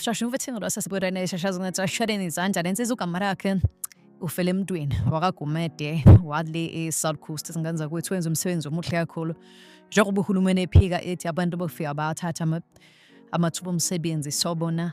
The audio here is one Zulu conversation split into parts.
shashe uvethingo lwaseSibuyeni eshashazwa ngetsashadeni izandla lensiza ugama lakhe ufele emntwini wakagumede wale e-south coast singane zakwethu wenza umsebenzi omuhle kakhulu njengoba uhulumeni ephika ethi abantu bokufika bathatha amathuba omsebenzi sobona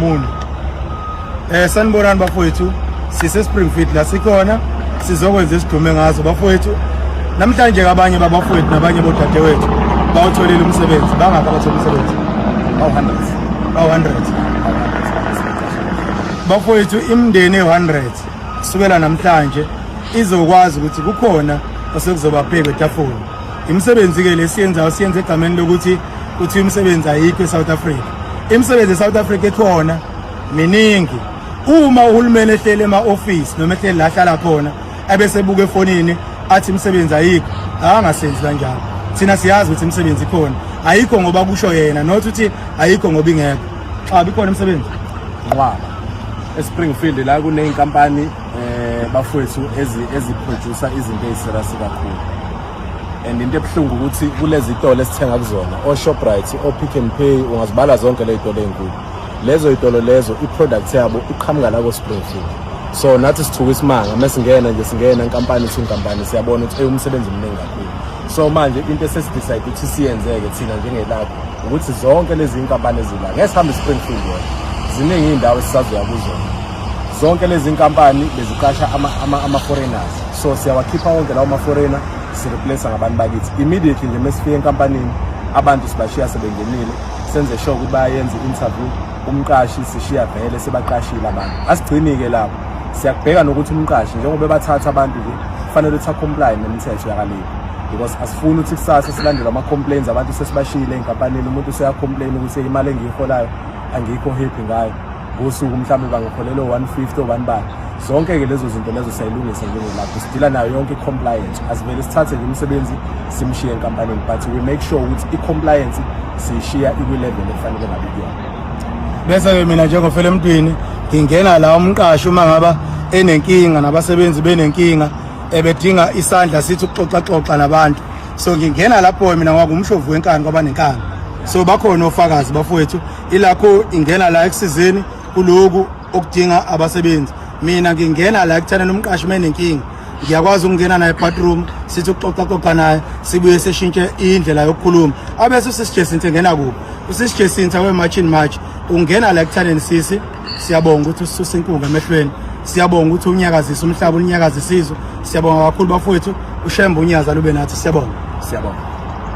Mulu. Eh sanibonani bafowethu sise Springfield la sikhona sizokwenza isidume ngazo bafowethu namhlanje kabanye babafowethu nabanye bodadewethu bawutholile umsebenzi bangaka bathola umsebenzi bawu 100 bawu 100 bafowethu imndeni e100 kusukela namhlanje izokwazi ukuthi kukhona osekuzobabheka etafuleni Imisebenzi-ke lesiyenzayo siyenza egameni lokuthi kuthiwa imisebenzi ayikho e-South Africa. Imisebenzi e-South Africa ekhona miningi. Uma uhulumeni ehlele ema-ofisi noma ehlele la hlala khona ebese buka efonini athi imisebenzi ayikho, akangasenzi kanjalo. Thina siyazi ukuthi imisebenzi ikhona. Ayikho ngoba kusho yena, not ukuthi ayikho ngoba ingekho. Xa bikhona imisebenzi. Ngwaba. eSpringfield la kuneyinkampani eh bafowethu ezi eziproducer izinto eziserious kakhulu and into ebuhlungu ukuthi kulezi zitolo esithenga kuzona o Shoprite o Pick n Pay ungazibala zonke lezi zitolo ezinkulu lezo zitolo lezo i product yabo iqhamuka la ko Springfield so nathi sithuka isimanga mesingena nje singena inkampani ithi inkampani siyabona ukuthi umsebenzi omningi kakhulu so manje into esesidecide ukuthi siyenzeke thina njengelapho ukuthi zonke lezi inkampani ezila ngeke sihambe Springfield yona ziningi indawo esisazoya kuzona zonke lezi nkampani beziqasha ama-foreigners ama, ama so siyawakhipha wonke lawo ma-foreigner sireplace ngabantu bakithi immediately nje mesifike enkampanini abantu sibashiya sebengenile senze sure ukuthi bayenza i-interview umqashi sishiya vele sebaqashile abantu asigcini-ke lapho siyakubheka nokuthi umqashi njengoba bathatha abantu nje kufanele ukuthi acomply nemithetho yakalibo because asifuni ukuthi kusasa silandele ama-complains abantu sesibashiyile ey'nkampanini umuntu useyacomplain ukuthi imali engiyiholayo angikho happy ngayo ngosuku mhlawumbe bangakholelwa 150 obani bani zonke-ke lezo zinto lezo siyayilungisa njengelapho sidila nayo yonke i-compliance asivele sithathe nje umsebenzi simshiye enkampanini but we make sure ukuthi i-compliance siyishiya ikwilevel efanele ngabe kuyona bese-ke mina njengofela emntwini ngingena la umqashi uma ngaba enenkinga nabasebenzi benenkinga ebedinga isandla sithi ukuxoxaxoxa nabantu so ngingena lapho mina ngwakungumshovu wenkani kwabanenkani so bakhona ofakazi bafowethu ilakho ingena la ekusizeni kuloku okudinga abasebenzi mina ngingena la ekuthana nomqashi menenkinga ngiyakwazi ukungena naye bathroom sithi uxoxa xoxa naye sibuye seshintshe indlela yokukhuluma abese usisi Jacinta ngena kuphi usisi Jacinta we march in march ungena la ekuthaneni sisi siyabonga ukuthi usisusa inkunga emehlweni siyabonga ukuthi unyakazisa umhlaba unyakazisa izwe siyabonga kakhulu bafowethu ushembe unyaza lube nathi siyabonga siyabonga